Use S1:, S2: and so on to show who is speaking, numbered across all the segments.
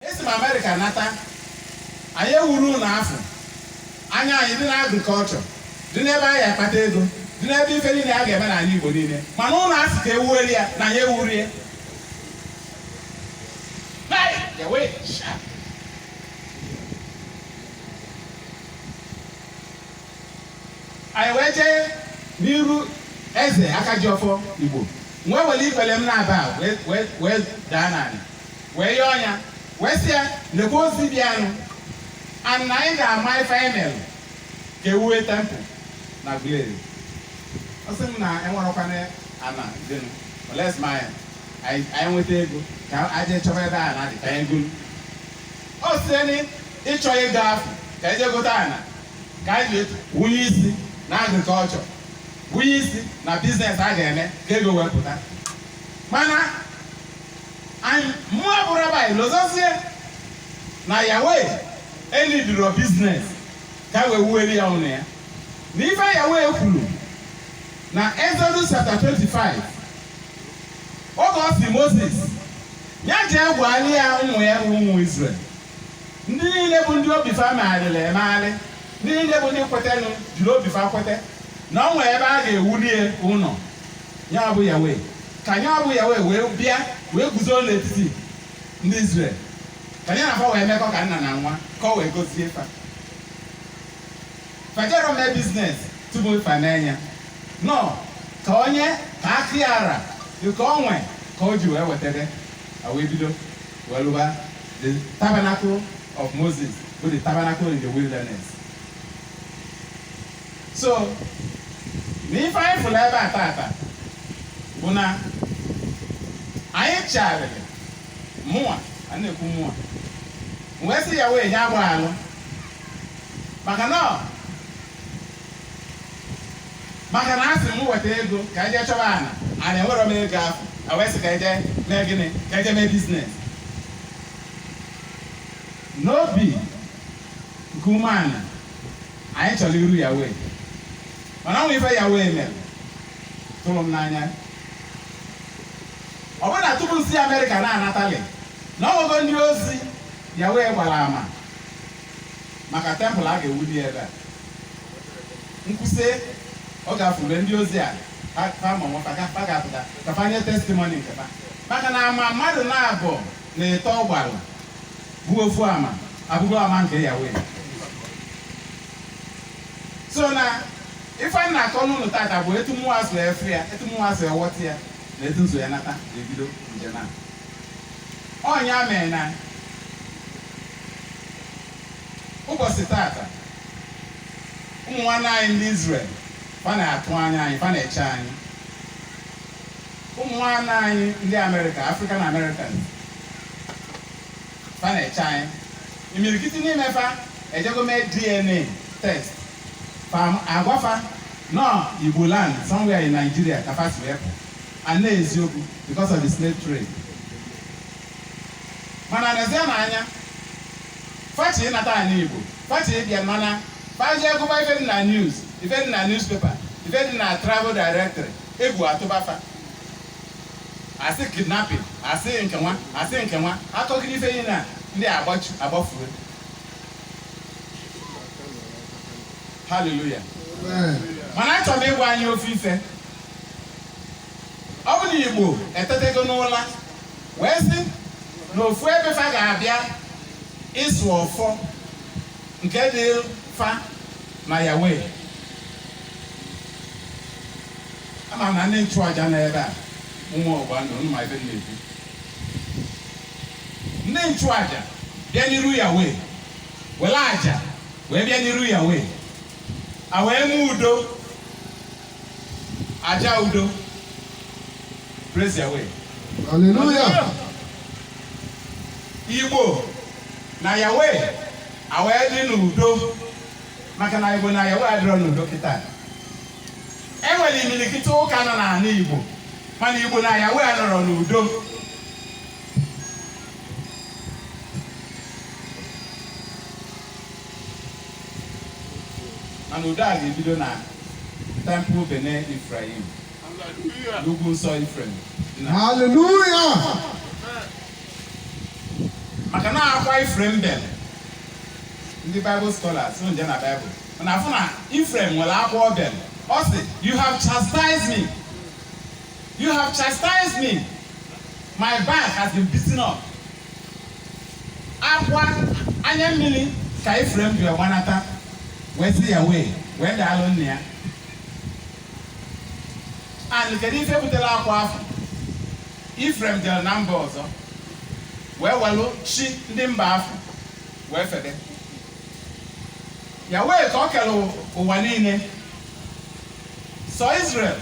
S1: Esi m Amerịka nata, anyị ewuro ụnọ afụ, anya anyị dị n'agrikọlchọ, dị n'ebe a ga-akpata ego, dị n'ebe ife niile a ga-eme n'ana Igbo niile, mana ụnọ a sị ka e wueli ya na anyị ewuro ya. Anyị wee jee n'iru Eze Aka Ji Ọfọ Igbo wee were ikpere m naabọ, wee- wee- wee daa n'ana wee yọọ ya wee sị ya lekwa ozi bịanụ and na anyị ga-ama ife anyị mere ka e wue tempụl n'Aguleri ọ sị m na enwerokwanụ ana dịnụ unless ma anyị anyị nweta ego ka e jee chọba ebe ana dị ka anyị goro ọ sị na ịchọ ego afụ ka e jee gote ana ka anyị ji wunye isi na agrikọlchọ wunye isi na biznes a ga-eme ka ego wepụta mana And mụa bụ rabbi lozozie na Yahweh enidiro biznes ka e wee wuere ya ụnọ ya na ife Yahweh kwuru na Exodus chapter 25 oge ọ sị Moses ya jee gwali ya ụmụ ya bụ ụmụ Israel ndị niile bụ ndị obi fa megharịrị emegharị ndị niile bụ ndị kwetenụ jiri obi fa kwete na o nwere ebe a ga-ewuli ya ụnọ Ya bụ Yahweh, ka ya bụ Yahweh wee bịa wee guzoro n'etiti ndị Izrel ka ya na fa wee mekọ ka nna na nwa ka o wee gozie fa fa ejero mee biznes tupu fa enye ya no ka onye ka aka ya ra nke o nwe ka o ji wee wetara a wee bido wee lụba the tabernacle of Moses bụ the tabernacle in the wilderness so na ife anyị fụrụ ebe a tata bụ na anyị chegharịrị mụnwa a na-ekwu mụnwa wee sị Yahweh nya gbaghalụ maka na maka na asị m nweta ego ka anyị jee chọba ana and enwero m ego afụ a wee sị ka anyị jee mee gịnị ka anyị jee mee biznes n'obi nke umeana anyị chọrọ iru Yahweh mana o nwe ife Yahweh mere tụrụ m n'anya ọ bụrụ na tupu m si Amerịka na-anatali na o nwere ndị ozi Yahweh gbara ama maka tempụl a ga-ewuli ebe a m kwusịa ọ ga-afụre ndị ozi a fa ga-apụta ka fa nye testimoni nke fa maka na ama mmadụ naabọ na ịtọ gbalụ bụ ofu ama abụgo ama nke Yahweh so na ife m na-akọlụ unu tata bụ etu mụwa si efe ya etu mụwa si awọta ya na etu m si wee nata na-ebido njem a ọ nya mee na ụbọsị tata ụmụ nwanne anyị ndị Izrel fa na-atụ anya anyị fa na-eche anyị ụmụ nwanne anyị ndị Amerịka African Americans fa na-eche anyị imirikiti n'ime fa ejego mee dna test fa a gwa fa na ọ igbo land somewhere in nigeria ka fa si wee pụ and na eziokwu because of the slave trade mana n'ezie na anya fa chọ ịnata ani igbo fa chọ ịbịa mana fa jee gụba ife dị na news ife dị na newspaper ife dị na travel directory egwu atụba fa a sị kidnapping a sị nke nwa a sị nke nwa a kọgide ife niile a ndị a agbachu agbafue haleluya mana achọrọ m ịgwa anyị ofu ife ọ bụ na igbo etetego n'ụla wee sị na ofu ebe fa ga-abịa ịsụ ọfọ nke dị fa na yawe Ama m na ndị nchụaja nọ ebe a, ụmụ ọgbụgba ndụ, unu ma ife m na-ekwu. Ndị nchụaja bịa n'iru Yahweh, were aja wee bịa n'iru Yahweh, a wee mee udo, aja udo. Praise Yahweh. Hallelujah. Igbo na Yahweh a wee dị n'udo maka na Igbo na Yahweh adịrọ n'udo kịta. e nwere imirikiti ụka nọ n'ala Igbo mana Igbo na Yahweh anọrọ n'udo mana udo a ga-ebido na tempụl Bene Ifrayim n'ugwu nsọ Ifrem haleluya maka na akwa Ifrem bere ndị Bible scholars nje na Bible mana afụ na Ifrem nwere akwa o bere ọ sị you have chastised me you have chastised me my back has been beaten up akwa anya mmiri ka Ifrem ji gbanata wee sị Yahweh wee daalụ nna ya and kedu ife butere akwa afụ Ifrem jere na mba ọzọ wee welụ chi ndị mba afụ wee febe Yahweh ka o kelu ụwa niine sọ Izrel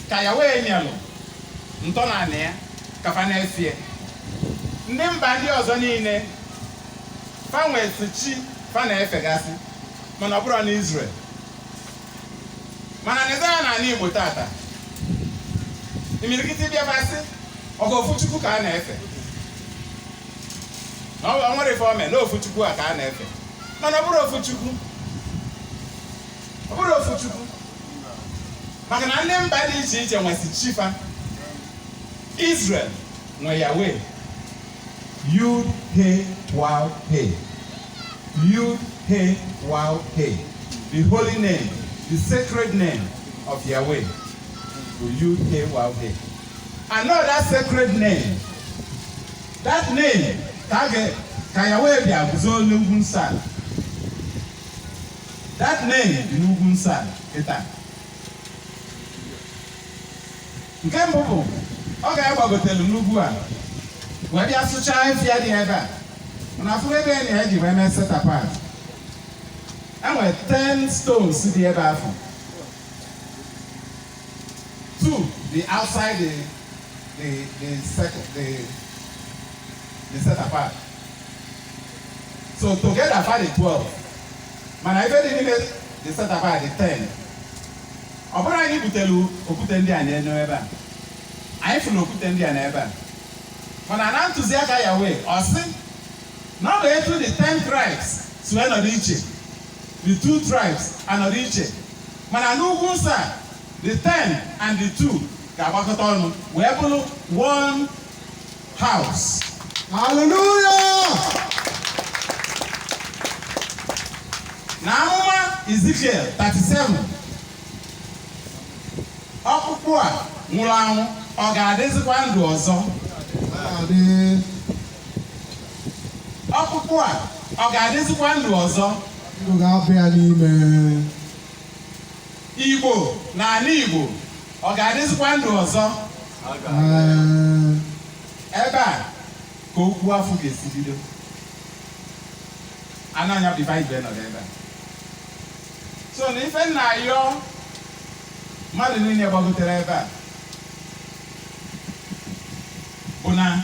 S1: ka Yahweh nyelụ ntọana ya ka fa na-efe ndị mba ndị ọzọ niine fa nwesị chi fa na-efegasị mana ọ bụrọ na Izrel mana nezie anya n'ana Igbo tata imirikiti ị bịa fa sị ọkwa ofu Chukwu ka a na-efe na o nwerọ ife o me na ofu Chukwu a ka a na-efe mana ọ bụrọ ofu Chukwu ọ bụrọ ofu Chukwu maka na ndị mba dị iche iche nwesị chi fa Israel nwe Yahweh yud he waw he yud he waw he the holy name the sacred name of Yahweh bụ yud he waw he and that sacred name that name ka ga ka ya wee bịa guzo n'ugwu nsọ a that name dị n'ugwu nsọ a kịta nke mbụ bụ oge a gbagotelu n'ugwu a wee bịa sụchaa ọfịa dị ebe a mana a fụrụ ebe a anyị ji wee mee set apart e nwere 10 stones dị ebe afụ Two dị outside the the the circle the the set apart. So together fa dị twelve. Mana ife dị n'ime the set apart dị ten. Ọ bụrọ anyị butelu okwute ndị a n'ebe a. Anyị fụrụ okwute ndị a na ebe a. Mana na ntụziaka Yahweh, ọ sị na ọ bụ etu the ten tribes si wee nọdụ iche The two tribes anọrọ iche, mana n'ugwu nsọ a, the ten and the two ga-agbakọta ọnụ wee bụrụ one house. Hallelujah! Na amụma Ezekiel 37, ọkpụkpụ a nwụrụ anwụ ọ ga-adịzikwa ndụ ọzọ? Adị. Ọkpụkpụ a ọ ga-adịzikwa ndụ ọzọ? Ndụ ga-aba ya n'ime. Igbo na ana Igbo ọ ga-adịzikwa ndụ ọzọ? Ebe a ka okwu afụ ga-esi bido. And ọ nya bụ ife anyị ji nọdụ ebe a. So na ife m na-ayọ mmadụ niine gbagotere ebe a bụ na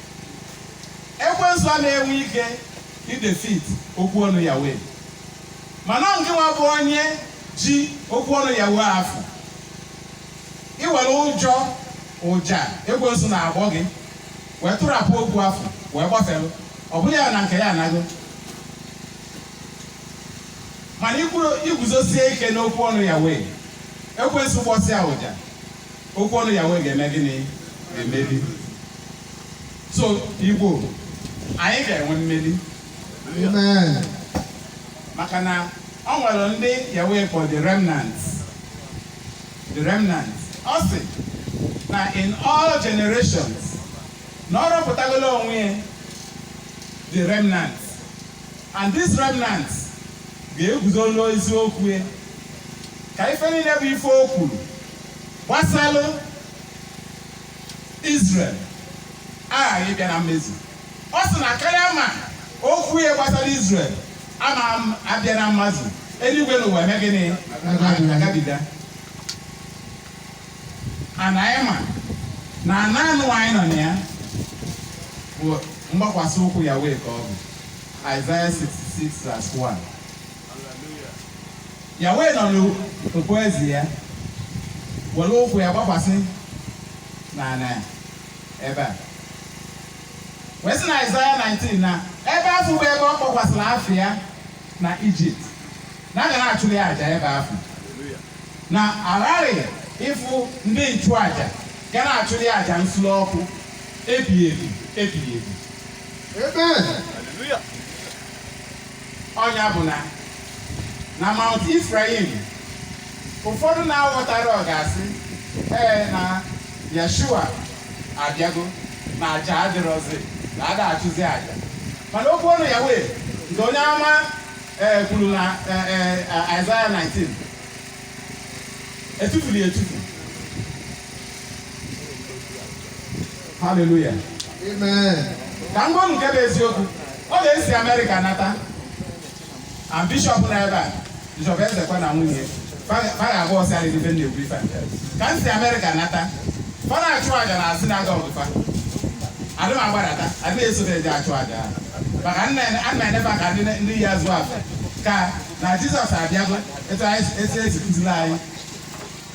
S1: ekwensu a na-enwe ike idefit okwu ọnụ Yahweh mana ngịnwa bụ onye ji okwu ọnụ Yahweh afụ i were ụjọ ụja ekwensu na-agbọ gị wee tụrapụ okwu afụ wee gbafere ọ bụlụ ya na nke ya anago mana i guzosie ike n'okwu ọnụ Yahweh ekwensu gbọsịa ụja okwu ọnụ Yahweh ga-eme gịnị emeli so igbo anyị ga-enwe mmeri maka na ọ nwere ndị Yahweh kpọ the remnants the remnants ọ sị na in all generations na ọ rọpụtagolo onwe ya the remnants And this remnant ga-eguzo n'eziokwu ya ka ife niile bụ ife o kwuru gbasalụ Israel aghaghị ịbịa na mmezu ọ sị na karịa ma okwu ya gbasara Israel ama abịa na mmezu eluigwe na ụwa eme gịnị agabiga ana anyị ma na ana anụwa anyị nọ na ya bụ mgbakwasị ụkwụ Yahweh ka ọ bụ Isaiah 66 verse 1 Yahweh nọ n'ukpo eze ya were ụkwụ ya gbakwasị na ana ebe a wee sị na Isaiah 19 na ebe afụ bụ ebe ọ kpọkwasịrị afa ya na Ijipt na a ga na-achụrụ ya aja ebe afụ na aghaghị ịfụ ndị nchụaja ga na-achụli aja nsure ọkụ ebighị ebi ebighị ebi Amen. ọ nya bụ na na Mount Ifrayim ụfọdụ na-aghọtarọ ga-asị ee na Yeshua abịago na aja adịrọzi na ada achụzi aja mana okwu ọnụ Yahweh nke onye ama e kwuru na e, e, Aịzaya 19 etufuru ya etufu haleluya Amen. ka m gwa unu nke bụ eziokwu ọ na-esi amerịka nata and bishọp na ebe a bishọp ezekwa na nwunye fada abụọ si adịghị ife na-ekwu ife ka m si amerịka nata fa da achụ aja na asị na-aga ọgụfa adị m agbadata adịghị esote eji achụ aja ha maka nna eneba ka ndị ya zụọ afọ ka na jizọs abịago etu esi esi kụziri anyị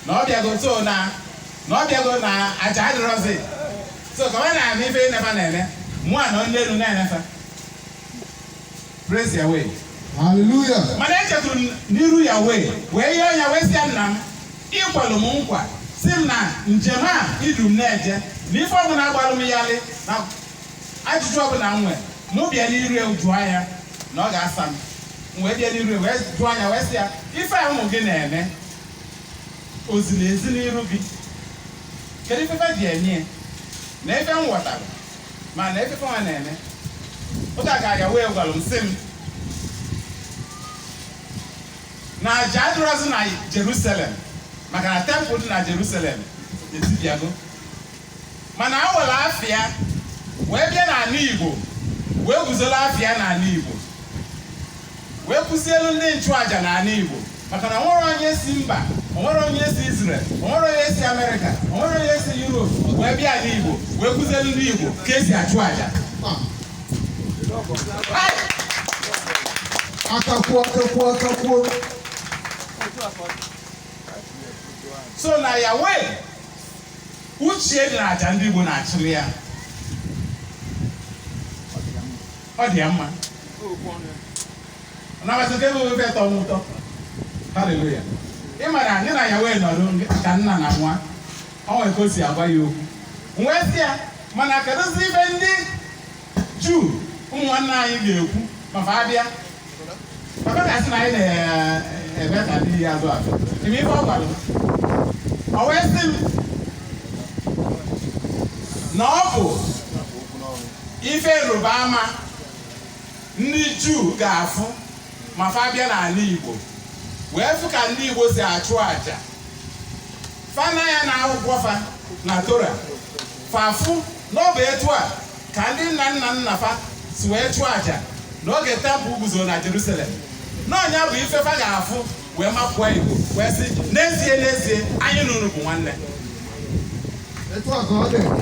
S1: na ọ bịago so na na ọ bịago na aja adịrọzi so ka ọ na-eme ife niine fa na-eme mụ anọ n'enu na-ene fa Praise Yahweh. Hallelujah. Mana echetụrụ m n'iru Yahweh wee yọọ ya wee sị ya nna m ị kwalụ m nkwa sị m na njem a i du m na-eje na ife ọbụla gbalụ m ghalị na ajụjụ ọbụla m nwere mụ bịa n'iru ya jụọ ya na ọ ga-asa m m wee bịa n'iru ya wee jụọ ya wee sị ya ife a ụmụ gị na-eme o ziri ezi n'iru gị kedu ife fa ji enye ya na ife m ghọtara ma na ife fa nwa na-eme oge a ka Yahweh gwara m sị m na aja adịrọzi na Jerusalem maka na tempụl dị na Jerusalem etibiago mana o were afa ya wee bịa n'anị Igbo wee guzola afa ya n'anị Igbo wee kuzielu ndị nchụaja n'anị Igbo maka na o nwerọ onye si mba o nwerọ onye si Izrel o nwerọ onye si Amerịka o nwerọ onye si Europe wee bịa ala Igbo wee kuzielu ndị Igbo ka e si achụ aja akakwuo akakwuo akakwuo so na Yahweh uche dị na aja ndị Igbo na-achụrụ ya ọ dị ya mma nabata nke bụ ife tọ n'ụtọ haleluya ị mara anyị na Yahweh nọrọ ka nna na nwa o nwere ka o si agwa ya okwu m wee sị ya mana kedụzi ife ndị juu ụmụnwanne anyị ga-ekwu ma fa bịa na ọ bụ ife ịrịba ama ndị juu ga-afụ ma fa bịa n'anị igbo wee fụ ka ndị igbo si achụ aja fa nee anya na akwụkwọ fa na tora fa afụ na ọ bụ etu a ka ndị nna nna nna fa si wee chụọ aja n'oge tempụl guzo na Jerusalem na ọ nya bụ ife fa ga-afụ wee makụọ igbo wee sị n'ezie n'ezie anyị na unu bụ nwanne